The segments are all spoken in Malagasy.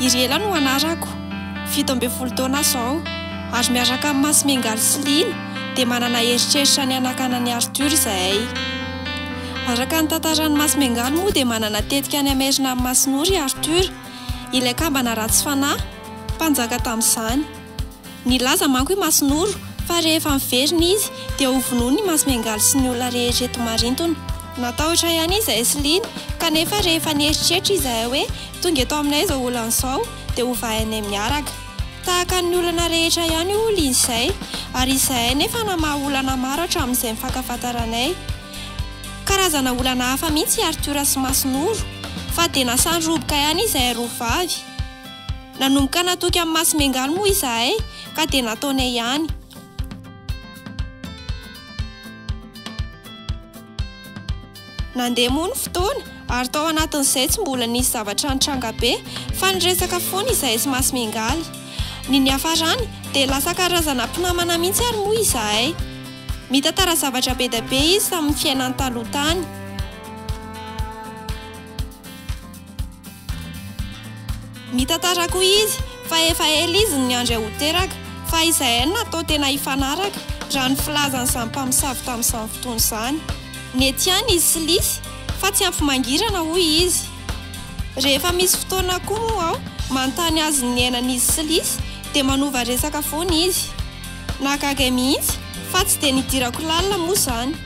I Riela no anarako, fito ambin'ny folo taona aho izao, ary miaraka amin'i Masimengaly sy Lina dia manana eritreritra ny hanakana an'i Arthur izahay. Araka ny tantaran'i Masimengaly moa dia manana tetika any Amerina amin'ny Masinoro i Arthur, ilay kambana ratsy fanahy, mpanjaka tamin'izany. Nilaza manko i Masinoro fa rehefa miverina izy dia ho vonoiny i Masimengaly sy ny olona rehetra eto Marintona. Natahotra ihany izahay sy Lina kanefa rehefa nieritreritra izahay hoe tonga eto aminay izao olana izao dia hovainay miaraka. Tahaka ny olana rehetra ihany io olona izay ary izahay nefa namaha olana maro hatramin'izay nifankafantaranay. Karazana olana hafa mihitsy i Arthur sy Masinoro fa dia nasan-droboka ihany izahay roa vavy. Nanomboka natoky an'i Masimengaly moa izahay ka dia nataonay ihany. Nandeha moa ny fotoana ary tao anatin'izay tsy mbola nisy zavatra nitranga be fa niresaka foana izahay sy Masimengaly. Ny niafarany dia lasa karazana mpinamana mihitsy ary moa izahay. Mitantara zavatra be dia be izy tamin'ny fiainany taloha tany. Mitantara koa izy fa efa ela izy no niandry ahy ho teraka, fa izahay no natao tena hifanaraka, raha ny filazan'izany mpamosavy tamin'izany fotoana izany. Nety ihany izy sy Lisy, fa tsy ampy mangirana, hoy izy. Rehefa misy fotoana koa moa aho manontany azy ny niainan'izy sy Lisy, dia manova resaka foana izy. Nahagaga ahy mihitsy fa tsy dia nidirako lalina moa izany.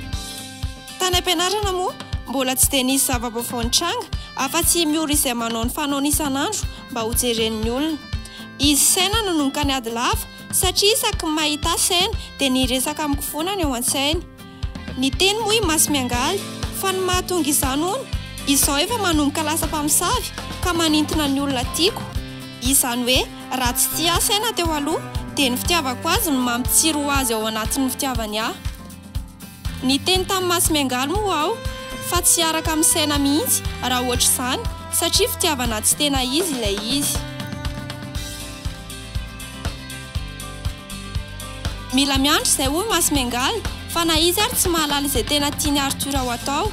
Tany am-pianarana moa mbola tsy dia nisy zava-baovao nitranga afa-tsy i Miora izay manao ny fanaony isan'andro mba ho jeren'ny olona. Izy Saina no nonkany ady lava satria isaky ny mahita ahy Saina dia ny hiresaka amiko foana no eo an-tsainy. Niteny moa i Masimiangaly fa ny mahatonga izany hono izaho efa manomboka lasa mpamosavy ka manintona ny olona tiako. Izany hoe raha tsy tia ahy Saina teo aloha dia ny fitiavako azy no mampitsiry ho azy ao anatin'ny fitiavany ahy. Niteny tamin'i Masimiangaly moa aho fa tsy hiaraka amin'ny saina mihitsy raha ohatr'izany satria fitiavana tsy tena izy ilay izy. Mila miandry izay hoy Masimiangaly fa na izy ary tsy mahalala izay tena tian'i Arthur ho atao.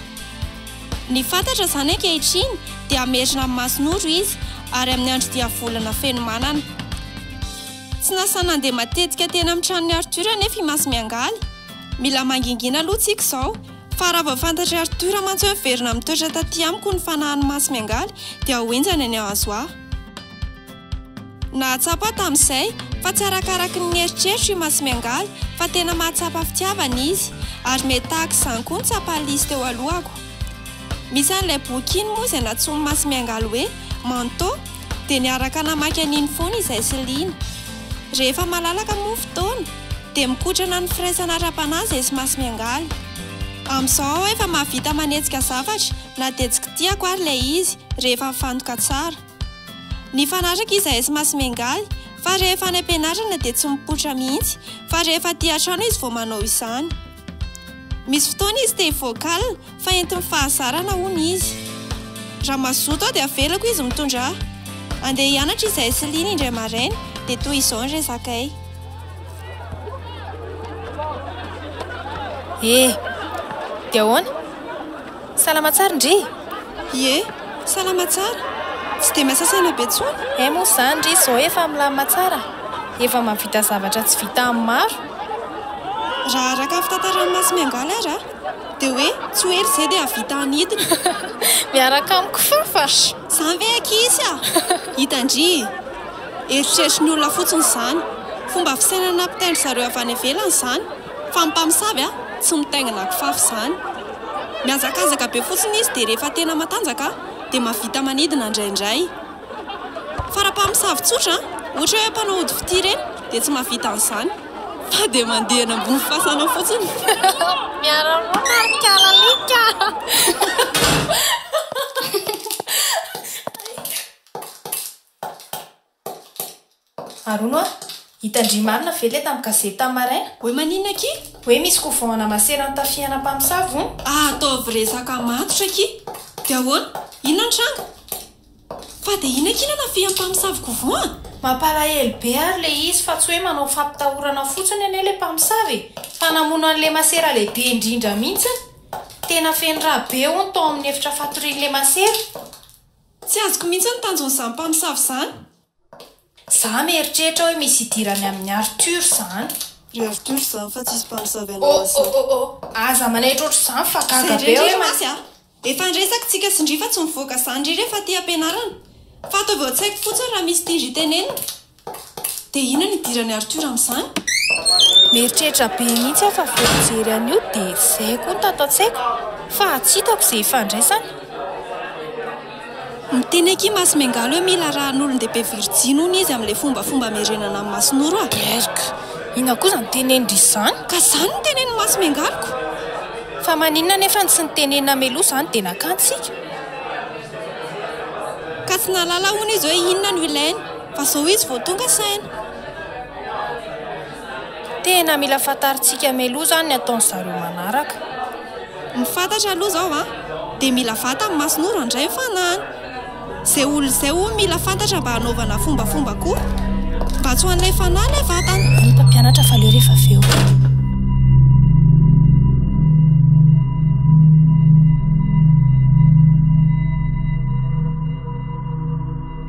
Ny fantatra izany ankehitriny dia hamerina amin'i Masinoro izy ary amin'ny andro diavolana feno manana. Tsy nasaina nandeha matetika teny amin'ny tranon'i Arthur anefa i Masimiangaly Mila mangingina aloha tsika izao. Fa raha vao fantatr'i Arthur mantsy hoe miverina mitoetra taty amiko ny fanahin'i Masy miangaly dia ho henjana ny hahazo ahy. Nahatsapa aho tamin'izay fa tsy arakaraky ny nieritreritro i Masy miangaly fa tena mahatsapa fitiavana izy. Ary mety tahaka izany koa ny tsapan'i Lisy teo alohako. Misy an'ilay boky iny moa izay nantsoin'i Masy miangaly hoe Manteau dia niaraka namaky an'iny foana izahay sy Lina. Rehefa malalaka moa ny fotoana. Dia mikotrana ny firaisana ara-panahy izay tsy maso miangaly. Amin'izao aho efa mahavita manetsika zavatra na dia tsy kitihako ary ilay izy rehefa mifantoka tsara. Nifanaraka izahay sy maso miangaly fa rehefa any am-pianarana dia tsy mipoitra mihitsy fa rehefa aty an-trano izy vao manao izany. Misy fotoana izy te hi-vocal fa entin'ny fahazarana hono izy. Raha mazoto aho dia avelako izy mitondra ahy. Andeha hianatra izahay sy Lina indray maraina dia toy izao ny resakay. Eh! Dia ahoana? Salama tsara ndry! Ie, salama tsara! Tsy dia masasaina be tsony? Eh moa zany ndry izao efa milamina tsara? Efa mahavita zavatra tsy vita amin'ny maro? Raha araka ny fitantaran'i Masimiangaly ary an! Dia hoe tsy ho ela izay dia hahavita ny hidiny! Miaraka amiko fafafr! Zany ve ankizy a! Hita ndry! Eritreritry ny olona fotsiny izany! Fomba fisainana ampitaindry zareo avy any ivelany izany! Fa ny mpamosavy a! tsy mitaingina kifafy izany. Mihazakazaka be fotsiny izy dia rehefa tena matanjaka dia mahavita manidina indraindray. Fa raha mpamosavy tsotra, ohatra hoe mpanao ody fitia ireny dia tsy mahavita an'izany. Fa dia mandeha eny ambony fasana fotsiny. Miara monina ry kalalika. Arono a! Hitan-dry marina ve ilay tamin'ny gazety tamin'ny maraina? Hoe maninona akia? Hoe misy couvent ana masera notafihana mpamosavy hono? Ah ataovy resaka matotra akia! Dia ahoana? Inona ny tranga? Fa dia inona akia no anafihan'ny mpamosavy couvent a? Mampalahelo be ary ilay izy fa tsy hoe manao fampitahorana fotsiny anie ilay mpamosavy e! Fa namono an'ilay masera lehibe indrindra mihitsy! Tena feno rà be hono tao amin'ny efitra fatorian'ilay masera! Tsy azoko mihitsy ny tanjon'izany mpamosavy izany. Za mieritreritra hoe misy idirany amin'i Arthur zany. Ry Arthur zany fa tsisy mpamosavy anao Lazare. Oh oh oh oh, aza manaitra otr'izany fa gaga be aho hoe ma. Zay indray Andriamasy a! Efa niresaka tsika sy ndry fa tsy mivoaka zany ry re fa ty ampianarana. Fa ataovy ao an-tsaiko fotsiny raha misy tiandry tenenina. Dia inona no idiran'i Arthur amin'izany? Mieritreritra be mihitsy aho fa vao nijery an'io dia izay koa no tato an-tsaiko fa tsy hitako izay ifandraisany. Miteny akia Masy Miangaly hoe mila rahan'olon-dehibe virjiny hono izy amin'ilay fombafomba amerenana an'i Masinoro a! Erg! Inona koa izany tenenindry izany? Ka izany no tenenin'i Masy Miangaly ko! Fa maninona anefa no tsy nitenenina mialoha izany dia nakantsika? Ka tsy nahalala hono izy hoe inona no ilainy. Fa zao izy vao tonga saina. Tena mila fantarintsika meloa zany ny ataon zareo manaraka. Ny fantatra aloha zao a, dia mila vata ny mason'ora handray ny fanahiny. Zay olona zay hono mila fantatra mba hanaovana fombafomba koa. Mba tsy ho an'ilay fanahy ilay vatana. Ny mpampianatra fa leo rehefa avy eo.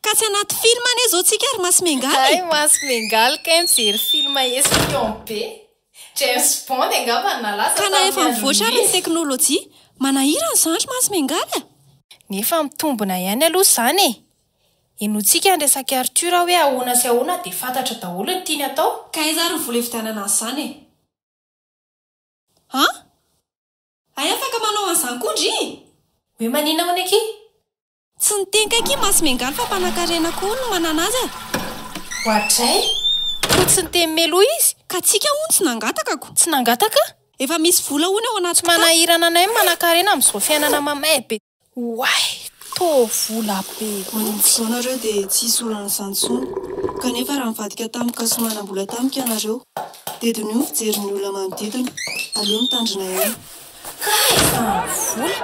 Ka tsy anaty film anie zao tsika ry Masy Mengaly e! Hay Masy Mengaly kay mijery film espion be! James Bond angamba no nalaza Ka na efa mivoatra ary ny teknolojia, manahirana izany ry Masy Mengaly a! Nefa mitombona ihany aloha izany e! Henointsika an'i Resaky Arthur hoe ahoana sy ahoana dia fantatra daholo ny tiany atao. Ka aiza ary ny vola hividianana azy izany e! An! Hay afaka manao an'izany koa ndry! Hoe maninona hono akia? Tsy niteny kaiky i Masy Miangaly fa mpanankarena koa no manana azy a! Oadray! Koa tsy niteny meloa izy? Ka tsika hono tsy nangataka ko! Tsy nangataka? Efa misy vola hono ao anaty kitapo! Tsy manahirana anay ny manankarena amin'izao fiainana mamay be! Oay! Toa vola be mihintsy! Amin'izao nareo dia tsy hisy olana izany intsony! Kanefa raha nivadika tamiko ka soa manam-bola tamiko ianareo dia diniho ny fijerin'ny olona manodidina! Aleo mitandrina ihany! Hay fa vola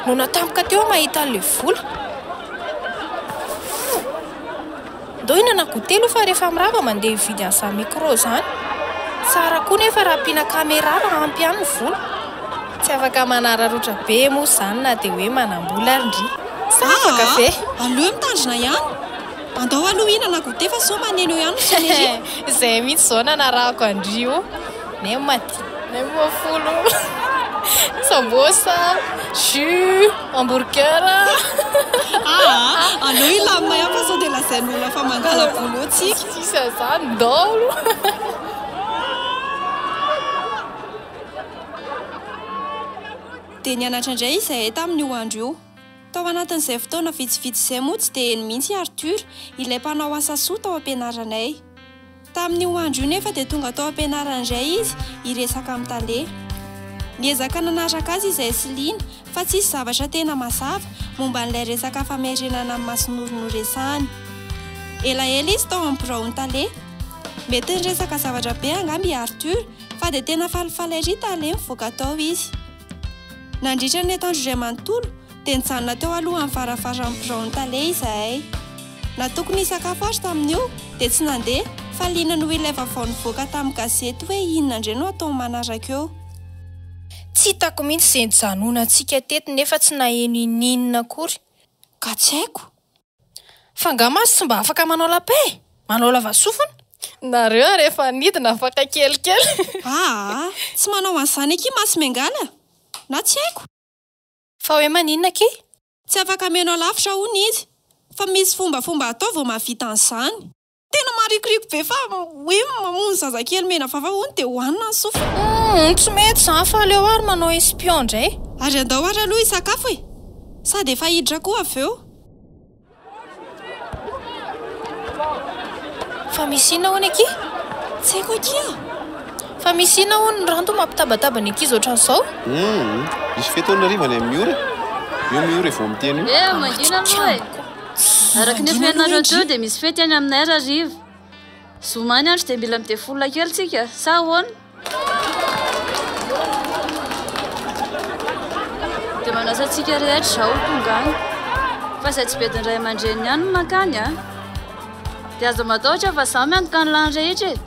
no natampoka teo aho mahita an'ilay vola. Ndao hinana goûter aloha fa rehefa mirava mandeha hividy an'izany micro izany. Tsara koa nefa raha ampiana caméra raha ampy ihany ny vola. Tsy afaka manararaotra be moa izany na dia hoe manam-bola ary ndry. Sa afaka ve? Aleo mitandrina ihany. Andao aloha hinana goûter fa sao maneno ihany ry Sonerie. Izay mihitsy izao nanarahako an-dry o. Nem. Nem ho folo. Sambosa, jus, hamburger. Ah, aleo hilamina ihany fa sao dia lazain'ny olona fa mandala vola eo tsika. Sisa zany daholo. Dia nianatra indray izahay tamin'io andro io. Tao anatin'izay fotoana vitsivitsy izay moa tsy dia heno mihitsy i Arthur, ilay mpanao asa soa tao am-pianaranay. Tamin'io andro io nefa dia tonga tao am-pianarana indray izy hiresaka amin'i Tale. Niezaka nanaraka azy izahay sy Lina fa tsisy zavatra tena mazava momba an'ilay resaka famerenana an'i Masinoro noresahany. Elaela izy tao amin'ny biraon'i Tale. Mety niresaka zavatra be angamba i Arthur fa dia tena falifaly ery Tale mivoaka tao izy. Nandritra ny atoandro iray manontolo, Dia nijanona teo alohan'ny varavaràn'ny biraon'ny tale izahay. Na tokony hisakafo ary tamin'io, dia tsy nandeha, fa liana noho ilay vaovao nivoaka tamin'ny gazety hoe inona indray no hatao manaraka eo. Tsy hitako mihitsy izay nijanonantsika teto nefa tsy naheno inon'inona akory, ka tsy haiko. Fa angaha mantsy tsy mba afaka manao lapin? Manao lavasofina? Nareo ary efa nidina afaka kelikely. Aa! Tsy manao an'izany akia mantsy Mengala! Na tsy haiko. Fa hoe maninona akia? Tsy afaka mihaino alavitra hono izy. Fa misy fombafomba atao vao mahavita an'izany. Tena marikoriko be fa hoe mamono zazakely mena vava hono dia hohanina ny sofiny. Humm tsy mety izany fa aleo ary manao espion indray. Ary andao ary aloha hisakafo e! Sady efa hiditra koa avy eo. Fa misy inona hono akia? Tsy haiko akia. Fa misy inona hono ny ranto mampitabataba ny ankizy ohatran'izao? Hum, misy fety hono hariva any amin'ny ora. Eo amin'ny ora vao miteny io. Eh, mangina aloha e. Araka ny efa henonareo teo dia misy fety any aminay rariva. Zoma any andro dia mila midefolola kely tsika, sa ahoana? Dia manasa antsika rehetra izao tonga any. Fa izay tsy bedin'ny ray aman-dreny ihany no mankany a. Dia aza matahotra fa izaho miantoka ny lany rehetra e.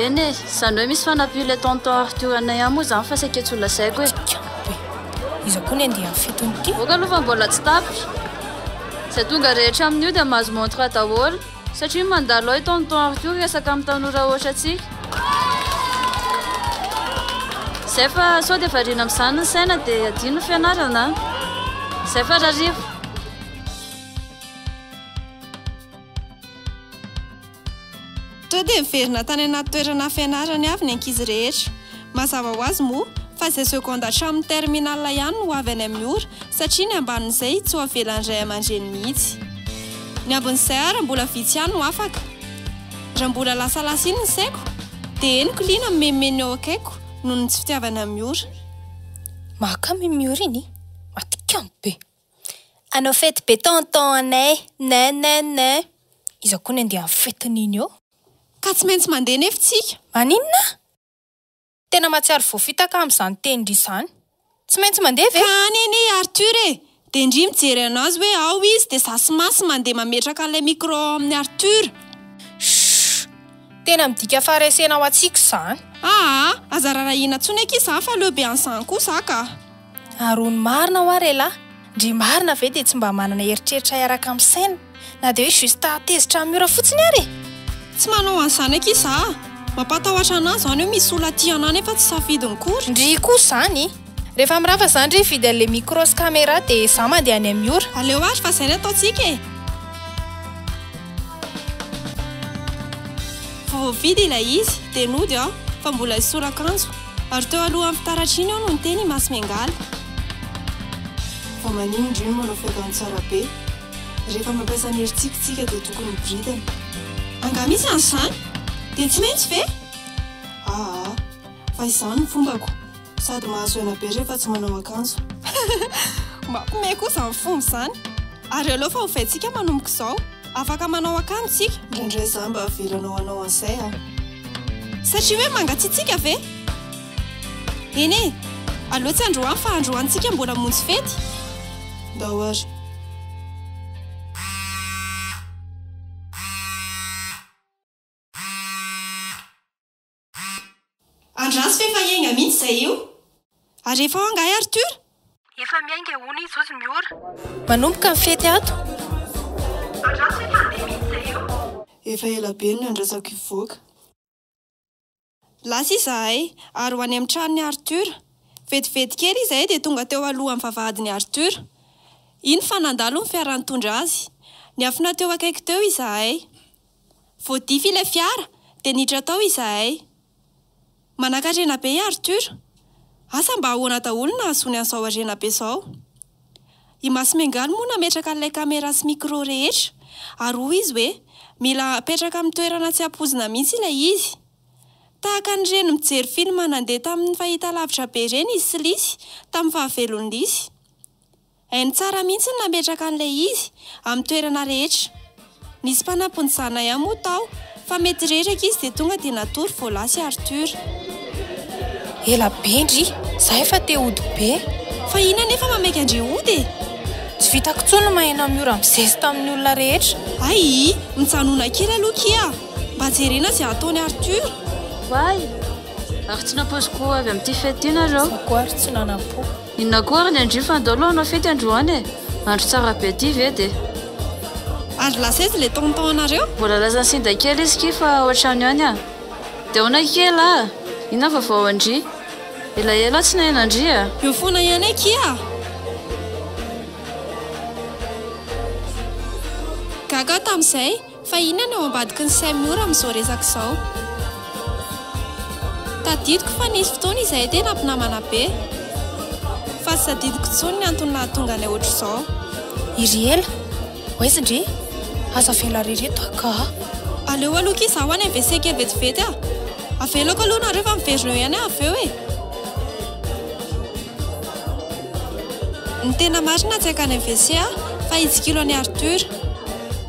Eny e, izany hoe misy fanampian'ilay tonton Arthur anay ihany moa izany fa saika tsy ho lazaiko e. Iza koa ny andeha amin'ny fetin'ity? Aoka aloha fa mbola tsy tapitra. Izay tonga rehetra amin'io dia mahazo montre daholo. Satria mandalo hay tonton Arthur resaka amin'ny tanora hoatrantsika. Zay fa sao dia variana amin'izany ny saina dia adino ny fianarana an! Zay fa rariva. Toa dia niverina tany anaty toerana fianarany avy ny ankizy rehetra. Mazava ho azy moa fa izay seconde hatramin'ny terminale ihany no ho avy any amin'ny ora satria ny ambanin'izay tsy ho avelan'ny ray aman-dreny mihitsy. Ny ambin'izay ary mbola vitsy ihany no afaka. Raha mbola lasalasa iny ny saiko dia henoko liana mimeme ny eo akaikiko noho ny tsy fitiavany amin'ny ora. Mahakamo iny miora iny, matikamo be. Hanao fety be tonton anay, nin nin nin. Iza koa ny andeha amin'ny fetiny iny ô? Ka tsy maintsy mandeha nefa tsika. Maninona? Tena mahatsiaro voafitaka amin'izany tenindry izany. Tsy maintsy mandeha ve? Ka any anie i Arthur e! Dia ndry mijery anazy hoe ao izy dia za sy Masy mandeha mametraka an'ilay micro ao amin'i Arthur. Shhh! Tena midika faharesena ho antsika izany. Aa! Aza rarahiana intsony akia za fa leo be an'izany koa za ka. Ary hono marina hoa re lahy, ndry marina ve dia tsy mba manana eritreritra hiaraka amin'ny saina, na dia hoe juste tezitra amin'ny ora fotsiny ary e! Tsy manao an'izany akia za a! Mampatahotra anah zany hoe misy olona tia anah nefa tsy safidiny kory! Ndry koa zany! Rehefa mirava za ndry hividy an'le micro sy camera dia za mandeha any amin'ny ora! Aleo ary fa zay ny ataontsika e! Vao voavidy ilay izy dia nody aho fa mbola hisora akanjo. Ary teo alohan'ny fitaratra iny eo no niteny i Masy Miangaly. Vao maniry indray ny manao fahitany tsara be. Rehefa mampiasa ny herintsika isika dia tokony miboridana. Angaha misy an'izany? Dia tsy maintsy ve? Aa, fa izany ny fombako. Sady mahazo aina be rehefa tsy manao akanjo. Mampime koa izany fomba izany. Ary aleo fa ovaintsika manomboka izao. Afaka manao akanjo tsika? Indray za mba averano hanao an'izay aho. Satria hoe mangatsiatsiaka ve? Eny e, aleo tsy androany fa androany tsika mbola monjy fety. Ndao ary. Andraso fa efa hiainga mihitsy izay io. Ary efa ao angaha i Arthur? Efa miainga hono i Zozy Miora. Manomboka ny fety ato. Andraso fa efa handeha mihitsy izay io. Efa ela be no nandrasako hivoaka. Lasa izahay ary ho any amin'ny tranon'i Arthur. Vetivety kely izahay dia tonga teo alohan'ny vavahadin'i Arthur. Iny fa nandalo ny fiara nitondra azy. Niafina teo akaiky teo izahay. Voadify ilay fiara dia niditra tao izahay. Manankarena be i Arthur. Asa mba ahoana daholo no nahazoany an'izao harena be izao. I Masimengaly moa nametraka an'ilay camera sy micro rehetra ary hoy izy hoe mila apetraka amin'ny toerana tsy ampoizina mihitsy ilay izy. Tahaka an'ireny mijery film nandeha tamin'ny fahitalavitra be ireny i Slisy tamin'ny fahavelon'i Lisy. Hainy tsara mihitsy ny nametraka an'ilay izy amin'ny toerana rehetra. Nisy mpanampin'i Zana ihany moa tao fa mety reraka izy dia tonga dia natory Vola sy Arthur. Ela be ndry, za efa te hody be. Fa iny anefa mameky andre hody e! Tsy vitako intsony ny maheno an'i Ora mi-zesta amin'ny olona rehetra. Aii, mijanona kely aloha kia! Mba jerena izay ataon'i Arthur. Oay! Ary tsy nampoiziko ho avy amin'ity fety ity nareo. Za koa ary tsy nanampo. Inona koa ary ny andrio fa andao aloha hanao fety androany e! Andro tsara be ty ve de. Ary lasa aiza ilay tonton anareo? Mbola lasan'i Sinda kely izy ki fa ao an-trano ihany an! De ahoana kely a! Inona vaovao an-dry? Elaela aho tsy naheno an-dry a! Eo foana ihany akia a! Gaga aho tamin'izay. Fa inona no ao ambadiky ny sain'i Mora amin'izao resaka izao? Tadidiko fa nisy fotoana izahay tena mpinamana be. Fa tsy tadidiko intsony ny antony nahatonga anay ohatr'izao. I Riela, oaizy ndry? Aza avela re reto angaha. Aleo aloha akia izaho any MVC kely vetivety a! Avelako aloha nareo fa miverina eo ihany aho avy eo e! Ny tena marina tsy hankany MVC aho fa hitsikilo an'i Arthur.